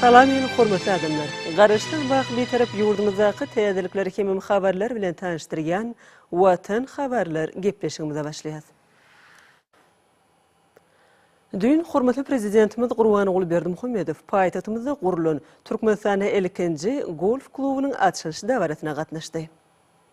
Salam meniň hormatly adamlar! Garaşsyz wah Bitarap ýurdumyzdaky täzelikler hemem habarlar bilen tanyşdyrýan Watan habarlar gepleşigimize başlaýas. Düýn hormatly Prezidentimiz Gurbanguly Berdimuhamedow paýtagtymyzda gurlan Türkmenistanda ilkinji golf klubunyň açylyş dabarasyna gatnaşdy.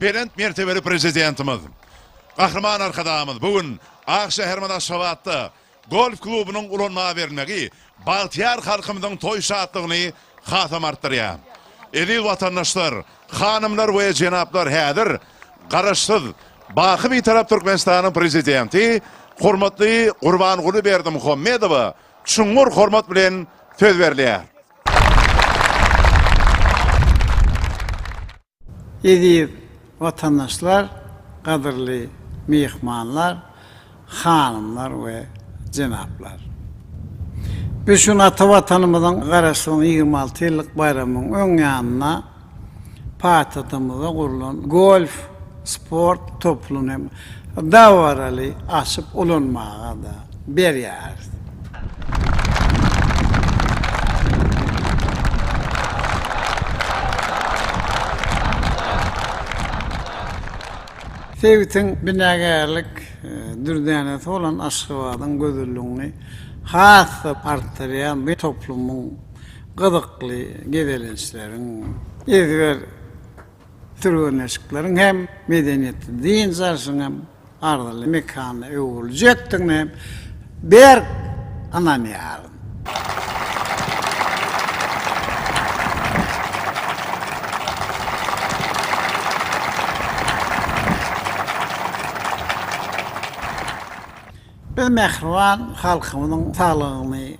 Belent mertebeli Prezidentimiz Gahryman Arkadagymyz bu gün ak şäherimiz Aşgabatda golf klubunyň ulanmaga berilmegi bagtyýar halkymyzyň toý şatlygyny hasam artdyrýar. Eziz watandaşlar, hanymlar we jenaplar häzir Garaşsyz, baky Bitarap Türkmenistanyň Prezidenti hormatly Gurbanguly Berdimuhamedowa çuňňur hormat bilen söz berilýär. Eziz watandaşlar, gadyrly myhmanlar, hanymlar we jenaplar! Biz şu gün ata Watanymyzyň Garaşsyzlygynyň ýigrimi alty ýyllyk baýramynyň öň ýanynda paýtagtymyzda gurlan golf sport topluny hem dabaraly açyp ulanmaga-da berýäris. Sebitiň binagärlik dürdänesi bolan Aşgabadyň gözelligini has-da artdyrýan bu toplumyň gyzykly gezelençleriň ezber Türgenleşikleriň hem medeniýetli dynç alşyň hem arzyly mekana öwrüljekdigine hem berk ynanýaryn. Biz mähriban halkymyzyň saglygyny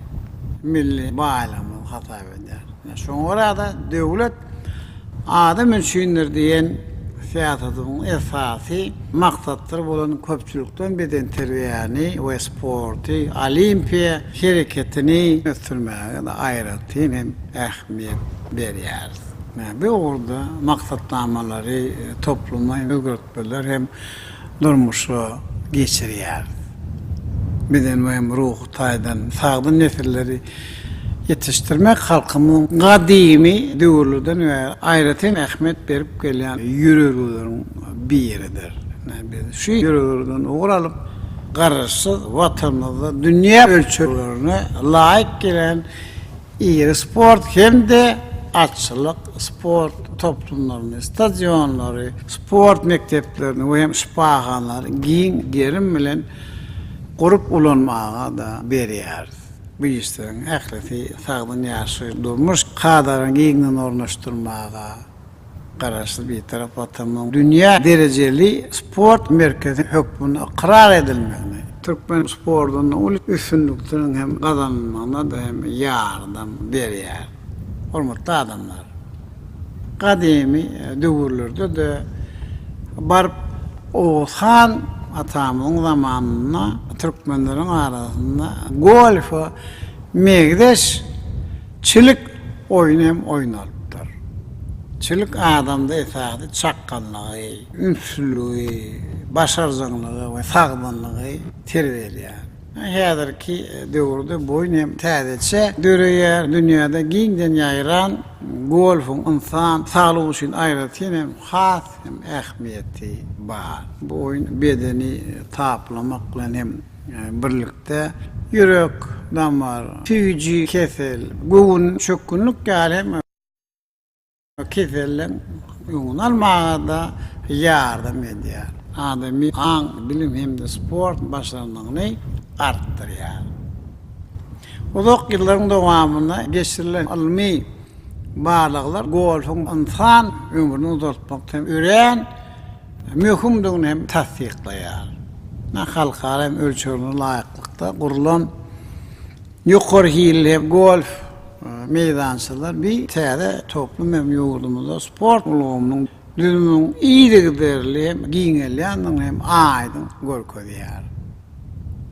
milli baýlygymyz hasap edýäris. Şoňa görä-de, Döwlet adam üçindir! diýen syýasatymyzyň esasy maksatdyr bolan köpçülikleýin bedenterbiýäni we sporty, olimpiýa hereketini ösdürmäge aýratyn hem ähmiýet berýäris. Bu ugurda maksatnamalary, topluma özgertmeler hem durmuşa geçirýär. Beden we hem ruhy taýdan sagdyn nesilleri ýetişdirmek halkymyzyň gadymy döwürlerden bäri aýratyn ähmiýet berip gelýän ýörelgeleriň biridir. Biz şu ýörelgelerden ugur alyp, Garaşsyz Watanymyzda dünýä ölçeglerine laýyk gelen Iri sport hem-de atçylyk sport toplumlaryny, stadionlary, sport mekdeplerini we hem şypahanalary giň gerim bilen gurup ulanmaga-da berýäris. Bu işleriň ählisi sagdyn ýaşaýyş-durmuş kadalaryny giňden ornaşdyrmaga, Garaşsyz Bitarap Watanymyzyň dünýä derejeli sport merkezi hökmünde ykrar edilmegine, türkmen sportunda uly üstünlikleriň hem gazanylmagyna-da hem ýardam berýär. Hormatly adamlar! Gadymy döwürlerde-de baryp Oguz han atamyzyň zamanynda türkmenleriň arasynda golfa meňzeş Çilik oýny hem oýnalypdyr. Çilik adamda esasy çakganlygy, ünslüligi, başarjaňlygy we sagdynlygy terbiýeleýär. Häzirki döwürde bu oýun hem täzeçe döreýär. Dünýäde giňden ýaýran golfuň ynsan saglygy üçin aýratyn hem has hem ähmiýeti bar. Bu oýun bedeni taplamak bilen hem Birlikde ýürek, damar, süýji kesel, göwün çökgünlik ýaly hem keselleň öňüni almaga-da ýardam edýär. Adamy aň, bilim hem-de sport başarnygyny artdyrýar. Uzak ýyllaryň dowamynda geçirilen ylmy barlaglar golfyň ynsan ömrüni uzaltmakda hem örän möhümdigini hem tassyklaýar. Ynha, halkara ölçeglerine laýyklykda gurlan ýokary hilli golf meýdançalar bi täze toplum hem ýurdumyzda sport ulgamynyň düzüminiň yzygiderli hem giňelýändigini hem aýdyň görkezýär.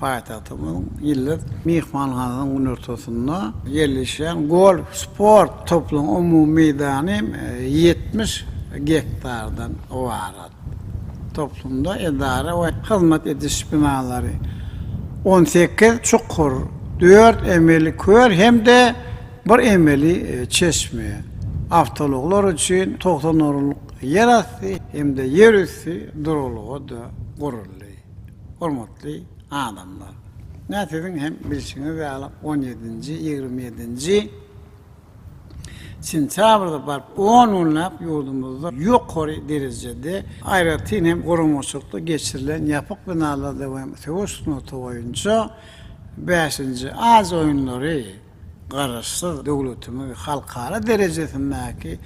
Paýtagtymyzyň Ýyldyz myhmanhanasynyň günortasynda ýerleşýän golf sport toplumynyň umumy meýdany ýetmiş gektardan ybarat. Toplumda edara we hyzmat ediş binalary, on sekiz çukur, dört emeli köl hem-de bir emeli çeşme, awtoulaglar üçin togsan orunlyk ýerasty hem-de ýerüsti duralga-da guruldy. Hormatly adamlar! Ine siziň hem bilşiňiz ýaly on ýedinji, ýigrimi ýedinji sentýabrda baryp on günläp ýurdumyzda ýokary derejede aýratyn hem guramaçylykda geçirilen ýapyk binalarda we söweş sungaty boýunça bäşinji Aziýa oýunlary, Garaşsyz döwletimiz halkara derejesindäki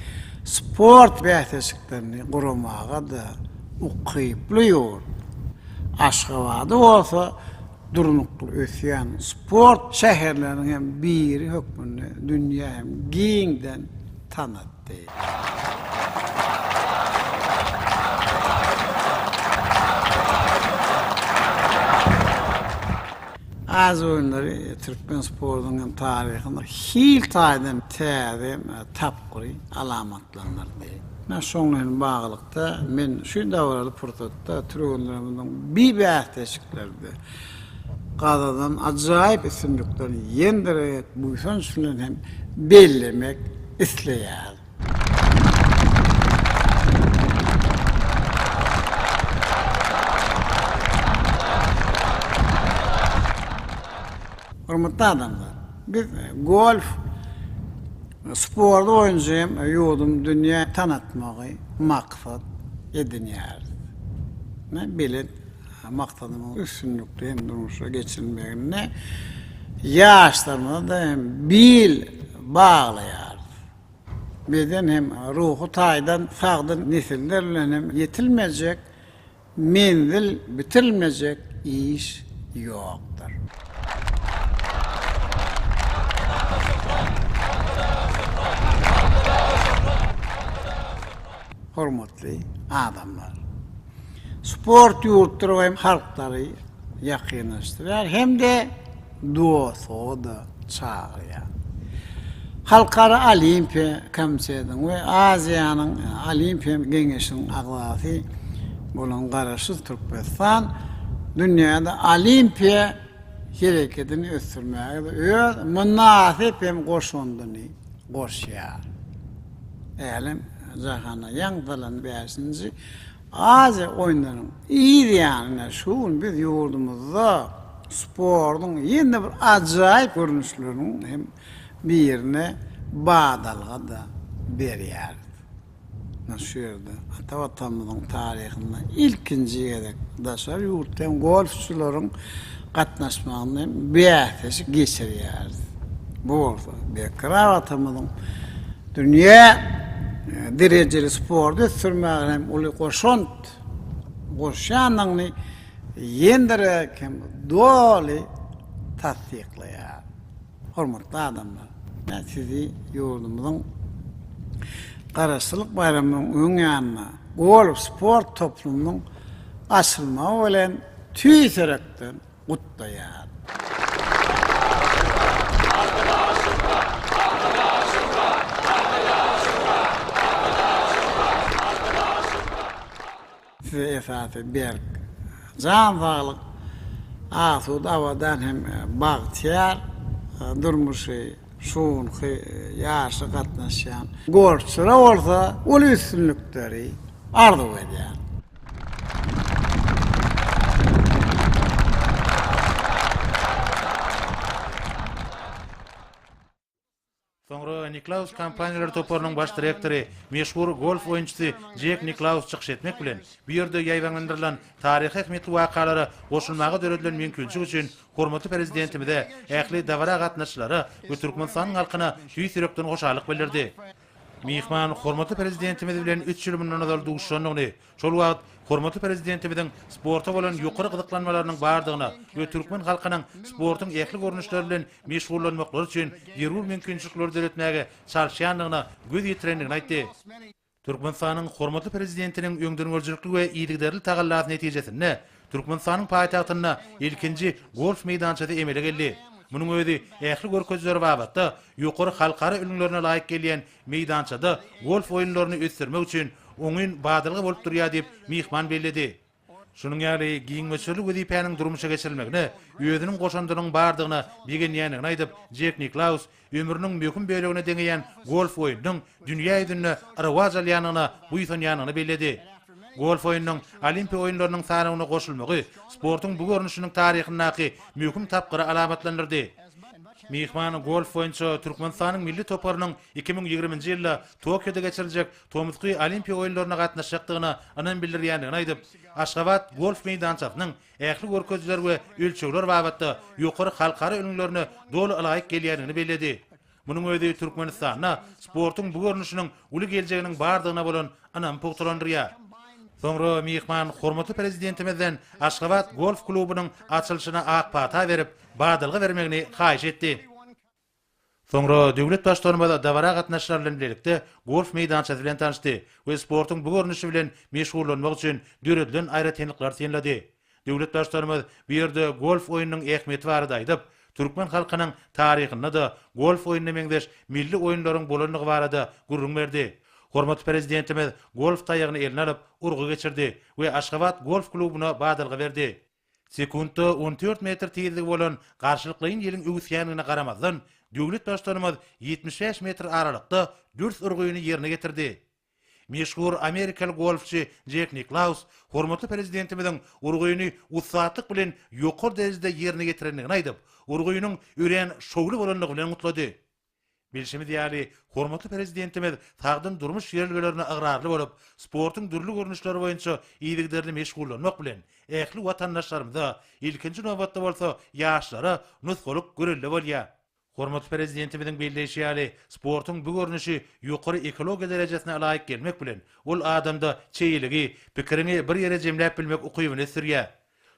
sport bäsleşiklerini guramaga-da ukyply ýurt. Aşgabady bolsa durnukly ösýän sport şäherleriniň hem biri hökmünde dünýä hem giňden tanat. aýtdy. Aziýa oýunlary türkmen sportunyň hem taryhynda hil taýdan täze tapgyry alamatlandyrdy. Şoňa bilen baglylykda, men şu dabaraly pursatda türgenlerimiziň bi bäsleşiklerde Gazadan ajaýyp üstünlikler ýendirerek buýsanç bilen hem bellemek isleýärin. Hormatly adamlar, biz golf sporty boýunça hem ýurdumy dünýä tanatmagy maksat edinýäris. Belent maksadymyzyň üstünlikli hem durmuşa geçirilmeginde ýaşlarymyza-da hem bil baglaýarys. Beden hem ruhy taýdan sagdyn nesiller bilen hem ýetilmejek menzil, bitirilmejek iş ýokdur. Hormatly adamlar! sport ýurtlary we halklary ýakynlaşdyrýar hem-de dost-doga çagyrýar. Halkara Olimpiýa komitetiniň we Aziýanyň Olimpiýa geňeşiniň agzasy bolan Garaşsyz Türkmenistan dünýäde Olimpiýa hereketini ösdürmäge-de öz mynasyp hem goşandyny goşýar. Älem jahana ýaňzylan bäşinji Aziýa oýunlarynyň yz ýanyna şu gün biz ýurdumyzda sportuň ýene-de bir ajaýyp görnüşleriniň hem birine badalga-da berýäris. Mundan şu ýerde ata Watanymyzyň taryhynda ilkinji gezek daşary ýurtdan golfçylaryň gatnaşmagynda hem bäsleşik geçirýäris. Bu bolsa Berkarar Watanymyzyň dünýä derejeli sporty ösdürmäge hem uly goşant goşýandygyny ýendirerek hem doly tassyklaýar. Hormatly adamlar, men sizi ýurdumyzyň Garaşsyzlyk baýramynyň öň ýanynda golf sport toplumynyň açylmagy bilen tüýs ýürekden gutlaýar. Size esasy berk jan saglyk, asuda abadan hem bagtyýar durmuşy. Şu günki ýaşa gatnaşýan golfçylara bolsa uly üstünlikleri arzuw edýän. Soňra Niklaus kompaniýalary toparynyň baş direktory, meşhur golf oýunçysy Jek Niklaus çykyş etmek bilen, bu ýerde ýaýbaňlandyrylan taryhy ähmiýetli wakalara goşulmaga döredilen mümkinçilik üçin Hormatly Prezidentimize, ähli dabara gatnaşyjylara we Türkmenistanyň halkyna tüýs ýürekden hoşallyk bildirdi. Myhman hormatly Prezidentimiz bilen üç ýyl mundan ozal duşuşandygyny, şol wagt hormatly Prezidentimiziň sporta bolan ýokary gyzyklanmalarynyň bardygyna we türkmen halkynyň sportuň ähli görnüşleri bilen meşgullanmaklary üçin zerur mümkinçilikleri döretmäge çalyşýandygyna göz ýetirendigini aýtdy. Türkmenistanyň hormatly Prezidentiniň öňdengörüjilikli we yzygiderli tagallasy netijesinde Türkmenistanyň paýtagtynda ilkinji golf meýdançasy emele geldi. Munuň özi ähli görkezileri babatda ýokary halkara ülňülerine laýyk gelýän meýdançada golf oýunlaryny ösdürmek üçin oňyn badalga bolup durýar diýip, myhman belledi. Şunuň ýaly giň möçberli wezipäniň durmuşa geçirilmegine özüniň goşandynyň bardygyna begenýändigini aýdyp, Jek Niklaus ömrüniň möhüm bölegine deňeýän golf oýnunyň dünýä ýüzünde rowaç alýandygyna buýsanýandygyny belledi. Golf oýnunyň Olimpiýa oýunlarynyň sanawyna goşulmagy sportuň bu görnüşiniň taryhyndaky möhüm tapgyry alamatlandyrdy. Myhman golf boýunça Türkmenistanyň milli toparynyň iki müň ýigriminji ýylda Tokioda geçiriljek tomusky Olimpiýa oýunlaryna gatnaşjakdygyna ynam bildirýändigini aýdyp, Aşgabat golf meýdançasynyň ähli görkezijiler we ölçegler babatda ýokary halkara ülňülerine doly ylaýyk gelýändigini belledi. Munuň özi Türkmenistanda sportuň bu görnüşiniň uly geljeginiň bardygyna bolan ynamy pugtalandyrýar. Soňra myhman hormatly Prezidentimizden Aşgabat golf klubunyň açylyşyna ak pata berip, badalga bermegini haýyş etdi. Soňra döwlet Baştutanymyz dabara gatnaşyjylar bilen bilelikde golf meýdançasy bilen tanyşdy we sportuň bu görnüşi bilen meşgullanmak üçin döredilen aýratynlyklary synlady. Döwlet Baştutanymyz bu ýerde golf oýnunyň ähmiýeti barada aýdyp, türkmen halkynyň taryhynda-da golf oýnuna meňzeş milli oýunlaryň bolandygy barada gürrüň berdi. Hormatly Prezidentimiz golf taýagyny eline alyp, urgy geçirdi we Aşgabat golf klubuna badalga berdi. Sekuntda on dört metr tizligi bolan garşylyklaýyn ýeliň öwüsýändigine garamazdan, döwlet Baştutanymyz ýetmiş bäş metr aralykda dürs urgyny ýerine getirdi. Meşhur amerikaly golfçy Jek Niklaus hormatly Prezidentimiziň urgyny ussatlyk bilen ýokary derejede ýerine ýetirendigini aýdyp, urgynyň örän şowly bolandygy bilen gutlady. Bilşimiz ýaly, hormatly Prezidentimiz sagdyn durmuş ýörelgelerine ygrarly bolup, sportuň dürli görnüşleri boýunça yzygiderli meşgullanmak bilen, ähli watandaşlarymyza, ilkinji nobatda bolsa, ýaşlara nusgalyk görelde bolýar. Hormatly Prezidentimiziň belleýşi ýaly, sportuň bu görnüşi ýokary ekologiýa derejesine laýyk gelmek bilen, ol adamda çeýeligi, pikiriňi bir ýere jemläp bilmek ukybyny ösdürýär.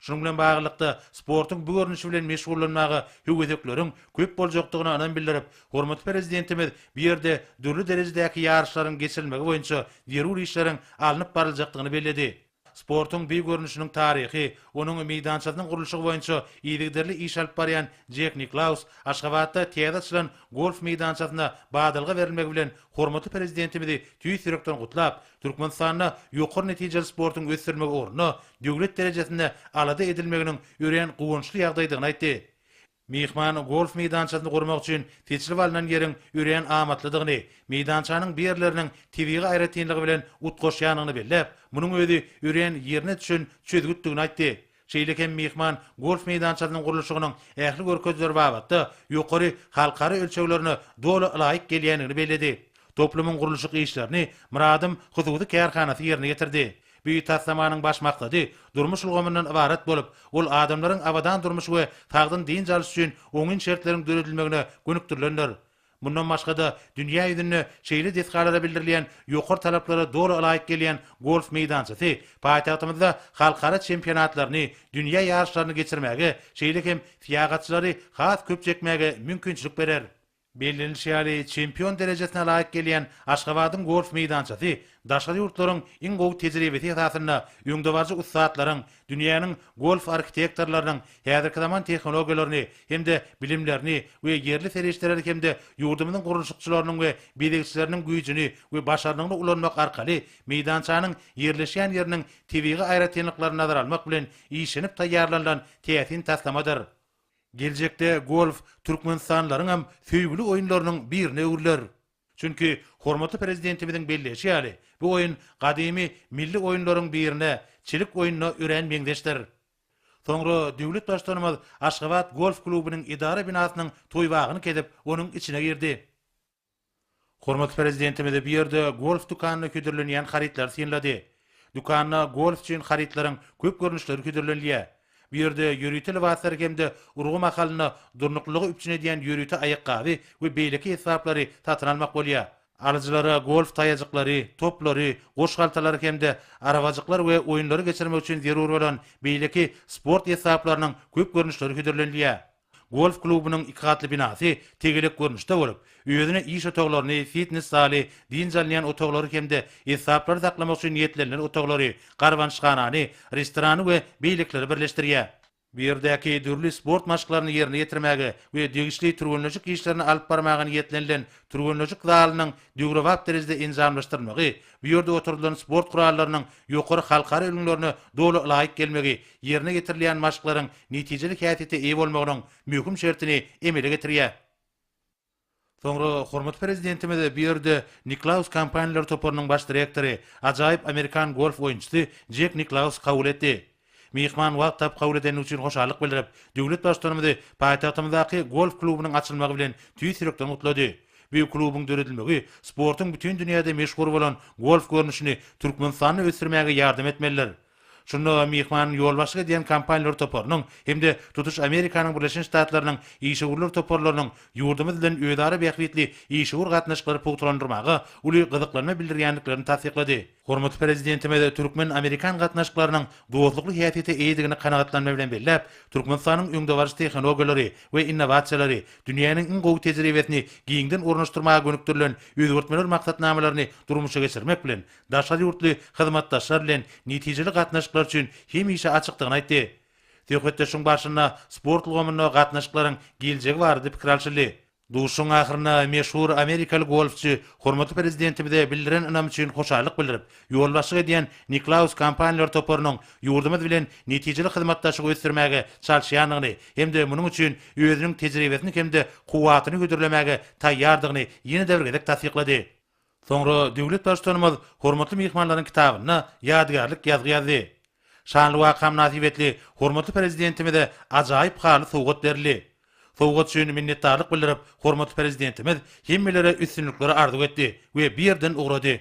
Şunuň bilen baglylykda, sportuň bu görnüşi bilen meşgullanmaga höwesekleriň köp boljakdygyna ynam bildirip, hormatly Prezidentimiz bu ýerde dürli derejedäki ýaryşlaryň geçirilmegi boýunça zerur işleriň alnyp baryljakdygyny belledi. Sportuň bi görnüşiniň taryhy, onuň meýdançasynyň gurluşygy boýunça yzygiderli iş alyp barýan Jek Niklaus Aşgabatda täze açylan golf meýdançasyna badalga berilmegi bilen hormatly Prezidentimizi tüýs ýürekden gutlap, Türkmenistanda ýokary netijeli sportuň ösdürilmegi ugrunda döwlet derejesinde alada edilmeginiň örän guwançly ýagdaýdygyny aýtdy. Myhman golf meýdançasyny gurmak üçin seçilip alnan ýeriň örän amatlydygyny, meýdançanyň bir ýerleriniň tebigy aýratynlygy bilen utgaşýandygyny belläp, munuň özi örän ýerine düşen çözgütdigini aýtdy. Şeýle hem myhman golf meýdançasynyň gurluşygynyň ähli görkezileri babatda ýokary halkara ölçeglerine doly ylaýyk gelýändigini belledi. Toplumyň gurluşyk işlerini Myradym hususy kärhanasy ýerine ýetirdi. Bu taslamanyň baş maksady durmuş ulgamyndan ybarat bolup, ol adamlaryň abadan durmuş we sagdyn dynç alyş üçin oňyn şertleriň döredilmegine gönükdirilendir. Mundan başga-da, dünýä ýüzünde şeýle desgalara bildirilýän ýokary talaplara doly ylaýyk gelýän golf meýdançasy paýtagtymyzda halkara çempionatlaryny, dünýä ýaryşlaryny geçirmäge, şeýle hem syýahatçylary has köp çekmäge mümkinçilik berer. Bellenilişi ýaly, çempion derejesine laýyk gelýän Aşgabadyň golf meýdançasy daşary ýurtlaryň iň gowy tejribesi esasynda öňdebaryjy ussatlaryň, Dünýäniň golf arhitektorlarynyň häzirki zaman tehnologiýalaryny hem-de bilimlerini we ýerli serişdeleri hem-de ýurdumyzyň gurluşykçylarynyň we bezegçileriniň güýjüni we başarnygyny ulanmak arkaly meýdançanyň ýerleşýän ýeriniň tebigy aýratynlyklaryny nazara almak bilen işlenip taýýarlanylan täsin taslamadyr. Geljekde golf türkmenistanlylaryň hem söýgüli oýunlarynyň birine öwrüler. Çünki, hormatly Prezidentimiziň belleýşi ýaly, bu oýun gadymy milli oýunlaryň birine, çilik oýnuna örän meňzeşdir. Soňra döwlet Baştutanymyz Aşgabat golf klubynyň edara binasynyň toýbagyny kezip, onuň içine girdi. Hormatly Prezidentimiz bu ýerde golf dükanyna hödürlenýän harytlary synlady. Dükanda golf üçin harytlaryň köp görnüşleri hödürlenilýär. Bu ýerde ýörite lybaslary hem-de urgy mahalynda durnuklylygy üpjün edýän ýörite aýakgaby we beýleki esbaplary satyn almak bolýar. Alyjylara golf taýajyklary, toplary, goş haltalary hem-de arabajyklar we oýunlary geçirmek üçin zerur bolan beýleki sport esbaplarynyň köp görnüşleri hödürlenilýär. Golf klubunyň iki gatly binasy tegelek görnüşde bolup, özüne iş otaglaryny, fitnes zaly, dynç alynýan otaglary hem-de esbaplary saklamak üçin niýetlenilen otaglary, garbanyşhanany, restorany we beýlekileri birleşdirýär. Bu ýerdäki dürli sport maşklaryny ýerine ýetirmäge we degişli türgenleşik işlerini alyp barmaga niýetlenilen türgenleşik zalynyň döwrebap derejede enjamlaşdyrylmagy bu ýerde oturdylan sport gurallarynyň ýokary halkara ülňülerine doly laýyk gelmegi Ýerine ýetirilýän maşklaryň netijeli häsiýete eýe bolmagynyň möhüm şertini emele getirýär. Soňra hormatly Prezidentimiz bu ýerde Niklaus kompaniýalar toparynyň baş direktory, ajaýyp amerikan golf oýunçysy Jek Niklausy kabul etdi. Myhman wagt tapyp kabul edeni üçin hoşallyk bildirip, döwlet Baştutanymyzy paýtagtymyzdaky golf klubunyň açylmagy bilen tüýs ýürekden gutlady. Bu klubuň döredilmegi sportuň bütin dünýäde meşhur bolan golf görnüşini Türkmenistanda ösdürmäge ýardam etmelidir. Şunda myhman ýolbaşçylyk edýän kompaniýalar toparynyň hem-de tutuş Amerikanyň Birleşen Ştatlarynyň işewürler toparlarynyň ýurdumyz bilen özara bähbitli işewür gatnaşyklary pugtalandyrmaga uly gyzyklanma bildirýändiklerini tassyklady. Hormatly Prezidentimiz türkmen-amerikan gatnaşyklarynyň dostlukly häsiýete eýedigini kanagatlanma bilen belläp, Türkmenistanyň öňdebaryjy tehnologiýalary we innowasiýalary, dünýäniň iň gowy tejribesini giňden ornaşdyrmaga gönükdirilen özgertmeler maksatnamalaryny durmuşa geçirmek bilen, daşary ýurtly hyzmatdaşlar bilen netijeli gatnaşyklar üçin hemişe açykdygyny aýtdy. Söhbetdeşligiň barşynda sport ulgamynda gatnaşyklaryň geljegi barada pikir alşyldy. Duşuşygyň ahyrynda meşhur amerikaly golfçy hormatly Prezidentimize bildiren ynamy üçin hoşallyk bildirip, ýolbaşçylyk edýän Niklaus kompaniýalar toparynyň ýurdumyz bilen netijeli hyzmatdaşlygy ösdürmäge çalyşýandygyny hem-de munuň üçin özüniň tejribesini hem-de kuwwatyny hödürlemäge taýýardygyny ýene-de bir gezek tassyklady. Soňra döwlet Baştutanymyz hormatly myhmanlaryň kitabyna ýadygärlik ýazgy ýazdy. Şanly waka mynasybetli hormatly Prezidentimize ajaýyp haly sowgat berildi. Sowgat üçin minnetdarlyk bildirip, hormatly Prezidentimiz hemmelere üstünlikleri arzuw etdi we bu ýerden ugrady.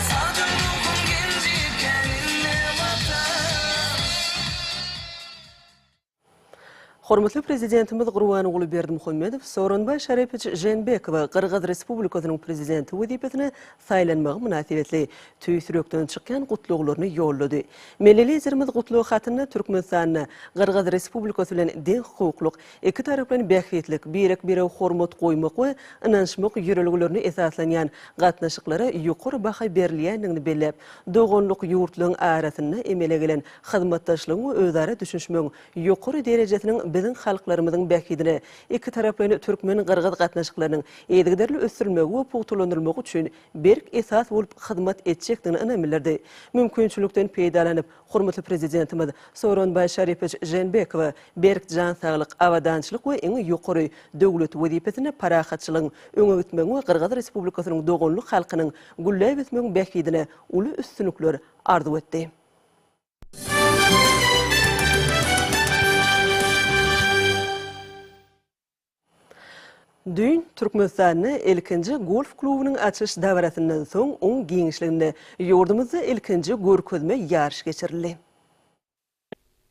Sagja ruhum genji teninde Watan. Hormatly Prezidentimiz Gurbanguly Berdimuhamedow Sooronbaý Şarepowiç Žeenbekowy Gyrgyz Respublikasynyň Prezidenti wezipesine saýlanmagy mynasybetli tüýs ýürekden çykýan gutlaglaryny ýollady. Milli Liderimiz gutlag hatynda Türkmenistanda Gyrgyz Respublikasy bilen deň hukuklyk, Iki taraplyň bähbitlik, birek-birege hormat goýmak we ynanyşmak ýörelgelerine esaslanýan gatnaşyklara ýokary baha berilýändigini belläp, doganlyk ýurtlaryň arasynda emele gelen hyzmatdaşlygyň we özara düşünişmegiň ýokary derejesiniň biziň halklarymyzyň bähbidine, ikitaraplaýyn türkmen-gyrgyz gatnaşyklarynyň yzygiderli ösdürilmegi we pugtalandyrylmagy üçin berk esas bolup hyzmat etjekdigine ynam bildirdi. Mümkinçilikden peýdalanyp, Hormatly Prezidentimiz Sooronbaý Şaripowiç Žeenbekowa berk jan saglyk, abadançylyk we iň ýokary döwlet wezipesinde parahatçylygyň, öňe gitmegiň we Gyrgyz Respublikasynyň doganlyk halkynyň gülläp ösmegiň bähbidine uly üstünlikler arzuw etdi. Düýn Türkmenistanda ilkinji golf klubunyň açyş dabarasyndan soň oň giňişliginde ýurdumyzda ilkinji görkezme ýaryş geçirildi.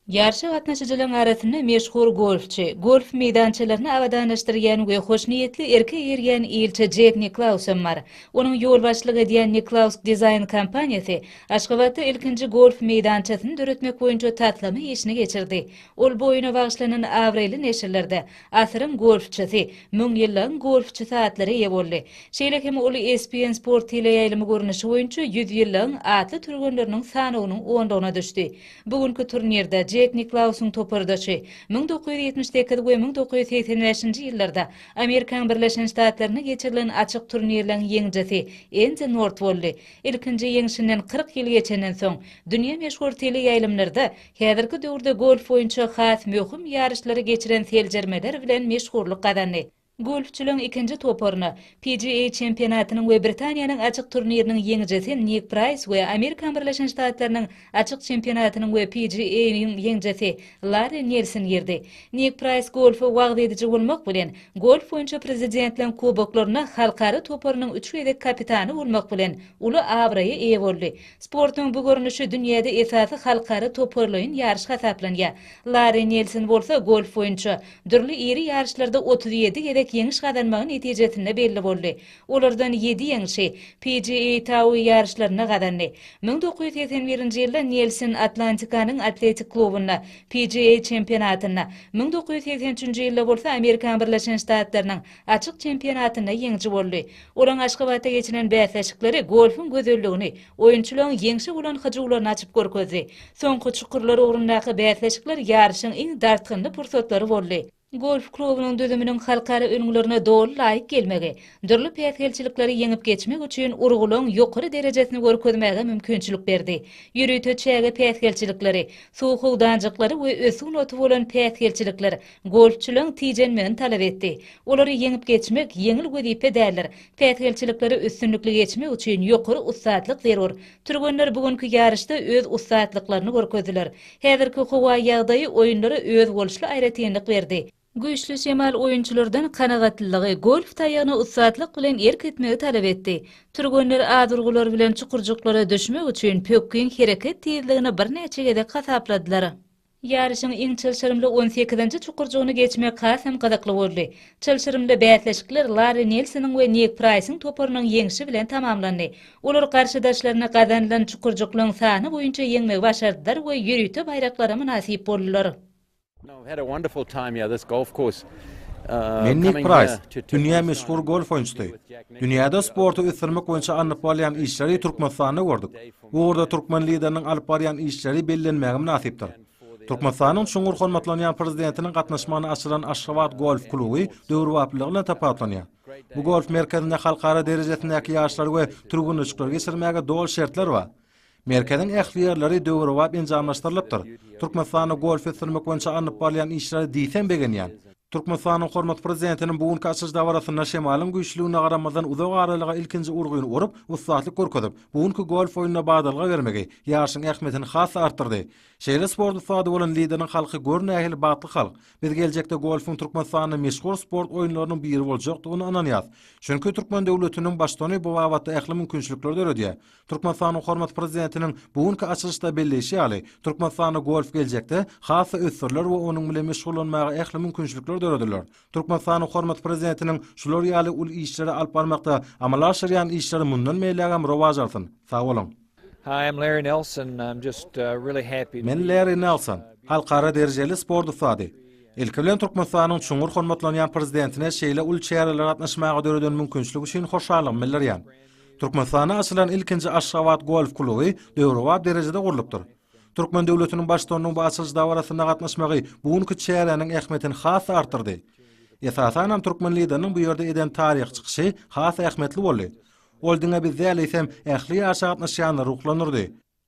Ýaryşa gatnaşyjylaryň arasynda meşhur golfçy, golf meýdançalaryny abadanlaşdyrýan we hoşniýetli erke eýerýän ilçi Jek Niklaus hem bar. Onuň ýolbaşçylyk edýän Niklaus Dizaýn kompaniýasy Aşgabatda ilkinji golf meýdançasyny döretmek boýunça taslama işini geçirdi. Ol bu oýuna bagyşlanan abraýly neşirlerde Asyryň golfçysy, Müňýyllygyň golfçysy atlara eýe boldy. Şeýle hem ol ESPN Sport teleýaýlymy görnüşi boýunça Ýüzýyllygyň atly türgenleriniň sanawynyň onlugyna düşdi. Bu günki turnirde Jek Niklausyň topardaşy, müň dokuz ýüz ýetmiş sekiz we müň dokuz ýüz segsen bäşinji ýyllarda Amerikaň Birleşen Ştatlarynda geçirilen açyk turnirleň ýeňijisi Endi Nort boldy. Ilkinji ýeňşinden kyrk ýyl geçenden soň, dünýä meşhur teleýaýlymlarda Häzirki döwürde golf boýunça has möhüm ýaryşlary geçiren seljermeler bilen meşhurlyk gazandy. Golfçylaryň ikinji toparyna PGA çempionatynyň we Britaniýanyň açyk turniriniň ýeňijisi Nik Praýs we Amerikan Birleşen Ştatlarynyň açyk çempionatynyň we PGA-yň ýeňjisi Larri Nelson girdi. Nik Praýs golfa wagyz ediji bolmak bilen, golf boýunça Prezidentligiň kuboklarynda halkara toparynyň üç gezek kapitany bolmak bilen, uly abraýa eýe boldy. Sportuň bu görnüşi dünýäde esasy halkara toparlaýyn ýaryş hasaplanýar. Larri Nelson bolsa golf boýunça dürli iri ýaryşlarda otuz ýedi gezek ýeňiş gazanmagy netijesinde belli boldy. Olardan ýedi ýeňşi PGA Tour ýaryşlarynda gazandy. Müň dokuz ýüz segsen birinji ýylda Nelson Atlantikanyň atletik klubynda PGA çempionatynda, müň dokuz ýüz segsen üçünji ýylda bolsa Amerikan Birleşen Ştatlarynyň Açyk çempionatynda ýeňiji boldy. Olaň Aşgabatda geçiren bäsleşikleri golfuň gözelligini, oýunçylaryň ýeňşe bolan hyjuwlaryny açyp görkezdi. Soňky çukurlar ugrundaky bäsleşikler ýaryşyň iň dartgynly pursatlary boldy. Golf klubunyň düzüminiň halkara ülňülerine doly laýyk gelmegi, dürli päsgelçilikleri ýeňip geçmek üçin urgularyň ýokary derejesini görkezmäge mümkinçilik berdi. Ýörite çäge päsgelçilikleri, suw howdanjyklary we ösüg noty bolan päsgelçilikler Golfçylaň tijenmegini talap etdi. Olary ýeňip geçmek ýeňil wezipe däldir. Päsgelçilikleri üstünlikli geçmek üçin ýokary ussatlyk zerur. Türgenler bu günki ýaryşda öz ussatlyklaryny görkezdiler. Häzirki howa ýagdaýy oýunlara özboluşly aýratynlyk berdi. Güýçli şemal oýunçylardan kanagatlylygy, golf taýagyna ussatlyk bilen erk etmegi talap etdi. Türgenler az urgular bilen çukurjyklara düşmek üçin pökgin hereket tizligini birnäçe gezek hasapladylar. Ýaryşyň iň çylşyrymly on sekizinji çukurjygyny geçmek has hem gyzykly boldy. Çylşyrymly bäsleşikler Larri Nelsonyň we Nik Praýsyň toparynyň ýeňşi bilen tamamlandy. Olar garşydaşlaryny gazanylan çukurjyklaryň sany boýunça ýeňmegi başardylar we ýörite baýraklara mynasyp boldular. Men Nik Praýs, dünýä meşhur golf oýunçysy. Dünýäde sporty ösdürmek boýunça alnyp barylýan işleri Türkmenistanda gördük. Bu ugurda türkmen Lideriniň alyp barýan işleri bellenmäge mynasypdyr. Türkmenistanyň çuňňur hormatlanýan Prezidentiniň gatnaşmagynda açylan Aşgabat golf kluby döwrebaplylygy bilen tapawutlanýar. Bu golf merkezinde halkara derejesindäki ýaryşlary we türgenleşikleri geçirmäge doly şertler bar. Merkeziň ähli ýerleri döwrebap enjamlaşdyrylypdyr. Türkmenistanda golf ösdürmek boýunça alnyp barylýan işlere diýseň begenýän. Türkmenistanyň hormatly Prezidentiniň bu günki açylyş dabarasynda şemalyň güýçlüligine garamazdan uzak aralyga ilkinji urgyny urup, ussatlyk görkezip, bu günki golf oýnuna badalga bermegi ýaryşyň ähmiýetini has-da artdyrdy. Şeýle sport ussady bolan lideriň halky gör nähili bagtly halk, biz geljekde golfuň Türkmenistanda meşhur sport oýunlarynyň biri boljakdygyna ynanýas. Çünki türkmen döwletiniň baştony bu babatda ähli mümkinçilikleri döredýär. Türkmenistanyň hormatly Prezidentiniň bu günki açylyşda belleýşi ýaly, Türkmenistanda golf geljekde has-da ösdüriler we onuň bilen meşgullanmaga ähli mümkinçilikler dörediler. Türkmenistanyň hormatly Prezidentiniň şular ýaly uly işleri alyp barmakda amala aşyrýan işleri mundan beýlägem rowaç alsyn! Sag boluň! Men Larry Nelson, halkara derejeli sport ussady. Ilki bilen Türkmenistanyň çuňňur hormatlanýan Prezidentine şeýle uly çärelere gatnaşmaga döreden mümkinçilik üçin hoşallygymy bildirýän. Türkmenistanda açylan ilkinji Aşgabat golf kluby döwrebap derejede gurlupdyr. Türkmen döwletiniň Baştutanynyň bu açylyş dabarasyna gatnaşmagy bu günki çäräniň ähmiýetini has-da artdyrdy. Esasan hem türkmen Lideriniň bu ýerde eden taryhy çykyşy has ähmiýetli boldy. Ol diňe biz däl eýsem, ähli ýaşa gatnaşýanlary ruhlandyrdy.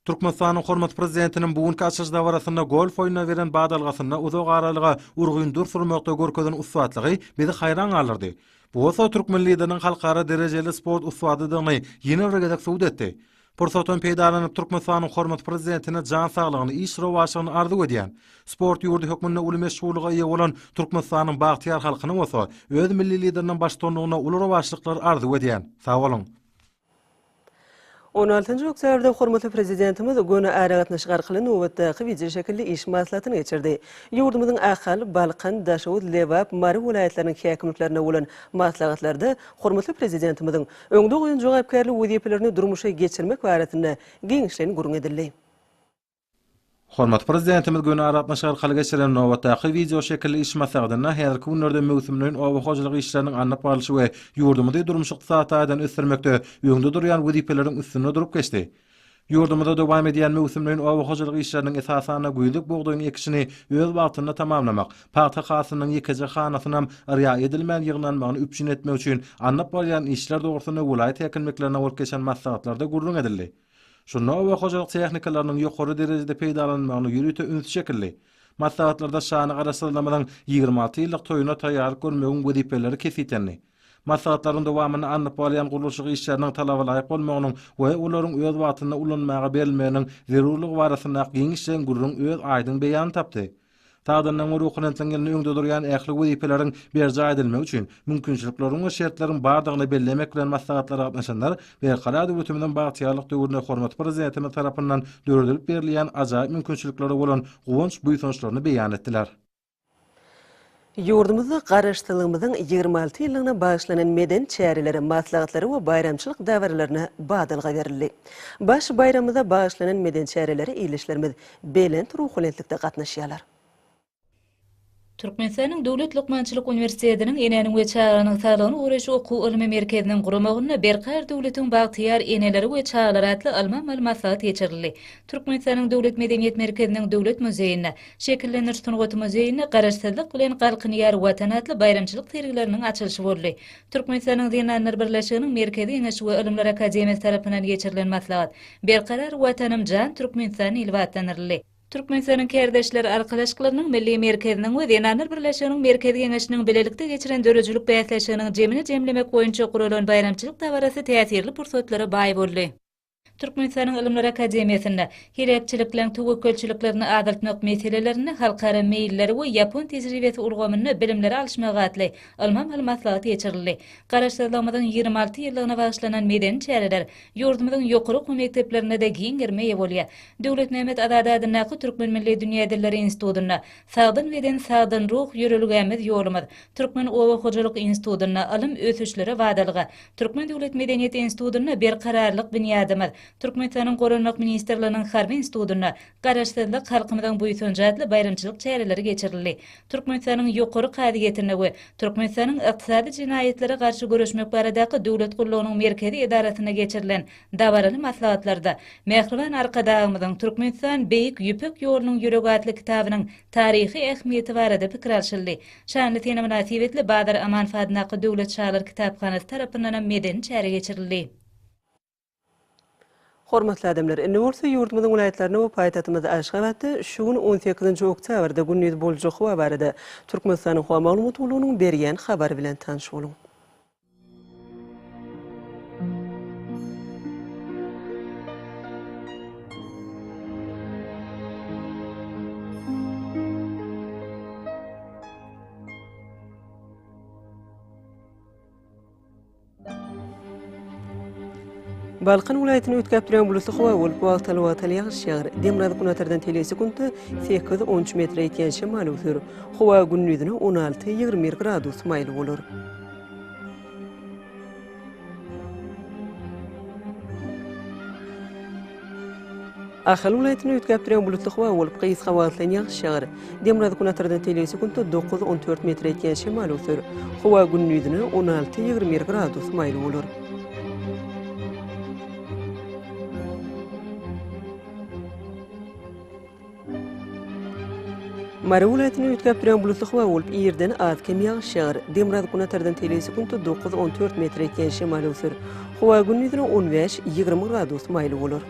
Türkmenistanyň hormatly Prezidentiniň bu günki açylyş dabarasynda golf oýnuna beren badalgasynda uzak aralyga urgyn dur surmakda görkezen ussatlygy bizi haýran galdyrdy. Bu bolsa türkmen Lideriniň halkara derejeli sport ussadydygyny ýene bir gezek subut etdi. Pursatdan peýdalanyp Türkmenistanyň hormatly Prezidentine jan saglygyny, iş rowaçlygyny arzuw edýän. Sport ýurdy hökmünde uly meşhurlyga eýe bolan Türkmenistanyň bagtyýar halkyna bolsa öz Milli Lideriniň baştutanlygynda uly rowaçlyklar arzuw edýän. Sag boluň! On altynjy oktýabrda hormatly Prezidentimiz göni aragatnaşyk arkaly nobatdaky wideoşekilli iş maslahatyny geçirdi. Ýurdumyzyň Ahal, Balkan, Daşoguz, Lebap, Mary welaýatlarynyň häkimliklerine bolan maslahatlarda hormatly Prezidentimiziň öňde goýan jogapkärli wezipelerini durmuşa geçirmek barasynda giňişleýin gürrüň edildi. Hormatly Prezidentimiz göni aragatnaşyk arkaly geçirilen nobatdaky wideo şekilli iş maslahatynda häzirki günlerde möwsümleýin oba hojalyk işleriniň alnyp barlyşy we ýurdumyzy durmuş-ykdysady taýdan ösdürmekde öňde durýan wezipeleriň üstünde durup geçdi. Ýurdumyzda dowam edýän möwsümleýin oba hojalyk işleriniň esasan-da güýzlük bugdaýyň ekişini öz wagtynda tamamlamak, pagta hasylynyň ýekeje hanasynam yrýa edilmän ýygnanmagyny üpjün etmek üçin alnyp barylýan işler dogrusynda welaýat häkimliklerinde bolup geçen maslahatlarda gürrüň edildi. Şunda oba hojalyk tehnikalarynyň ýokary derejede peýdalanylmagyna ýörite üns çekildi. Maslahatlarda şanly Garaşsyzlygymyzyň ýigrimi alty ýyllyk toýuna taýýarlyk görmegiň wezipeleri kesgitlendi. Maslahatlaryň dowamynda alnyp barylýan gurluşyk işleriniň talabalaýyk bolmagynyň we olaryň öz wagtynda ulanmaga berilmeginiň zerurlygy barasyndaky giňişleýin gürrüň öz aýdyň beýanyny tapdy. Sazandanyň ruhuna siňňilini öňde durýan ähli wezipeleriň berjaý edilmegi üçin mümkinçilikleriň we şertleriň bardygyny bellemek bilen maslahatlara gatnaşanlar Berkarar döwletimiziň bagtyýarlyk döwründe hormatly Prezidentimiz tarapyndan döredilip berilýän ajaýyp mümkinçiliklere bolan guwanç-buýsançlaryny beýan etdiler. Ýurdumyzda Garaşsyzlygymyzyň ýigrimi alty ýyllygyna bagyşlanan medeni çärelere, maslahatlara we baýramçylyk dabaralaryna badalga berildi. Baş baýramymyza bagyşlanan medeni çärelere ildeşlerimiz belent ruhubelentlikde gatnaşýarlar. Türkmenistanyň Döwlet lukmançylyk uniwersitetiniň Enäniň we çaganyň saglygyny goraýyş okuw-ylmy merkeziniň guramagynda Berkarar döwletiň bagtyýar eneleri we çagalar atly ylmy-amaly maslahat geçirildi. Türkmenistanyň Döwlet medeniýet merkeziniň Döwlet muzeýinde, Şekillendiriş sungaty muzeýinde Garaşsyzlyk bilen galkynýar Watan atly baýramçylyk sergileriniň açylyşy boldy. Türkmenistanyň Zenanlar birleşiginiň Merkezi Geňeşi we Ylymlar akademiýasy tarapyndan geçirilen maslahat Berkarar Watanym jan, Türkmenistan ilbi atlandyryldy. Türkmenistanyň Kärdeşler arkalaşyklarynyň Milli merkeziniň we Zenanlar birleşiginiň Merkezi Geňeşiniň bilelikde geçiren döredijilik bäsleşiginiň jemini jemlemek boýunça guralan baýramçylyk dabarasy täsirli pursatlara baý boldy. Türkmenistanyň Ylymlar akademiýasynda Heläkçilikleň töwekgelçiliklerini azaltmak meselelerinde halkara meýilleri we ýapon tejribesi ulgamynda bilimleri alyşmak atly ylmy-amaly maslahat geçirildi. Garaşsyzlygymyzyň ýigrimi alty ýyllygyna bagyşlanan medeni çäreler ýurdumyzyň ýokary okuw mekdeplerinde-de giň gerime eýe bolýar. Döwletmämmet Azady adyndaky Türkmen milli dünýä dilleri institutynda Sagdyn beden, sagdyn ruh, ýörelgämiz, ýolumyz, Türkmen oba hojalyk institutynda Ylym, ösüşlere badalga, Türkmen döwlet medeniýet institutynda Berkararlyk binýadymyz, Türkmenistanyň Goranmak ministrliginiň Harby institutynda Garaşsyzlyk, halkymyzyň buýsanjy atly baýramçylyk çäreleri geçirildi. Türkmenistanyň Ýokary kazyýetinde we Türkmenistanyň Ykdysady jenaýatlara garşy göreşmek baradaky döwlet gullugynyň merkezi edarasynda geçirilen dabaraly maslahatlarda Mähriban Arkadagymyzyň Türkmenistan, beýik Ýüpek ýolunyň ýüregi atly kitabynyň taryhy ähmiýeti barada pikir alşyldy. Şanly sene mynasybetli Bazar Amanow adyndaky Döwlet çagalar kitaphanasy tarapyndanam medeni çäre geçirildi. Hormatly adamlar, indi bolsa ýurdumyzyň welaýatlarynda we paýtagtymyz Aşgabatda şu gün on sekizinji oktýabrda gündiz boljak howa barada Türkmenistanyň Howa maglumat gullugynyň berýän habary bilen tanyş boluň. Balkan welaýatyny üýtgäp duran bulutly howa bolup, wagtal-wagtal ýagyş ýagar. Demirgazyk günortadan tele sekuntda sekiz-on üç metre ýetýän şemal öwsür. Howa gündizine on alty-ýigrimi bir gradus maýyl bolar. Ahal welaýatyny üýtgäp duran bulutly howa bolup, gysga wagtlaýyn ýagyş ýagar. Demirgazyk-Günortadan telege sekuntda dokuz, on dört metre ýetýän şemal öwser. Howa gündizine on alty, ýigrimi bir gradus maýyl bolar. Mary welaýatyny üýtgäp duran bulutly howa bolup, irden az-kem ýagyş ýagar. Demirgazyk günatardan teliň sekundy dokuz, on dört metre ýetýän şemal öwser. Howa gündizine on bäş, ýigrimi gradus maýly bolar.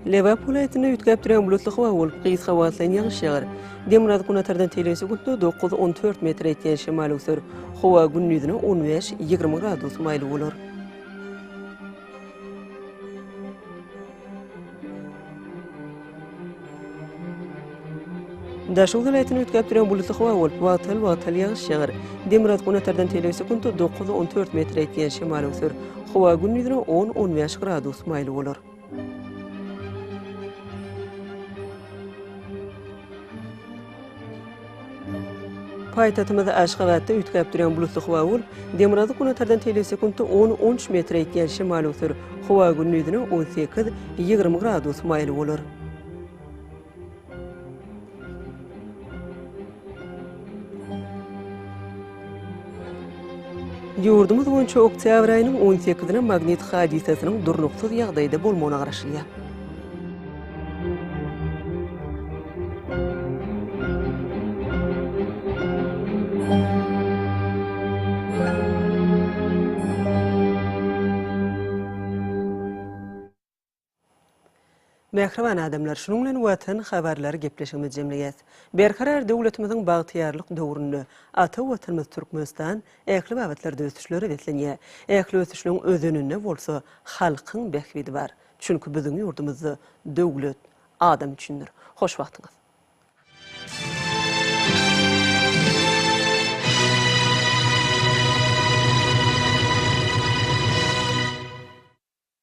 Lebap welaýatynda üýtgäpdürýän bulutly howa bolup, gysga wagtlaýyn ýagyş ýagar. Demirgazyk günortadan tegelesi gündüz dokuz, on dört metr ýetýän şemal öwser. Howa gündizine on bäş, ýigrimi gradus maýyl bolar. Daşoguz welaýatyny üýtgäp duran bulutly howa bolup, wagtal wagtal ýagyş ýagar. Demirgazyk günortadan telek sekunta dokuz, on dört metr ýetýän şemal öwser. Howa gündizine on, on bäş gradus maýly bolar. Paýtagtymyzda Aşgabatda üýtgäp durýan bulutly howa bolup, demirgazyk günortadan telesekuntda on, on üç metre ýetýän şemal öwser. Howa gündizine on sekiz, ýigrimi gradus maýyl bolar. Ýurdumyz boýunça oktýabr aýynyň on sekizine magnit hadysasynyň durnuksyz ýagdaýda bolmagyna garaşylýar. Mähriban adamlar, şunuň bilen Watan habarlary gepleşigimizi jemleýäs. Berkarar döwletimiziň bagtyýarlyk döwründe ata Watanymyz Türkmenistan ähli babatlarda ösüşlere beslenýär. Ähli ösüşligiň özeninde bolsa halkyň bähbidi bar. Çünki biziň ýurdumyzda döwlet adam üçindir. Hoş wagtyňyz.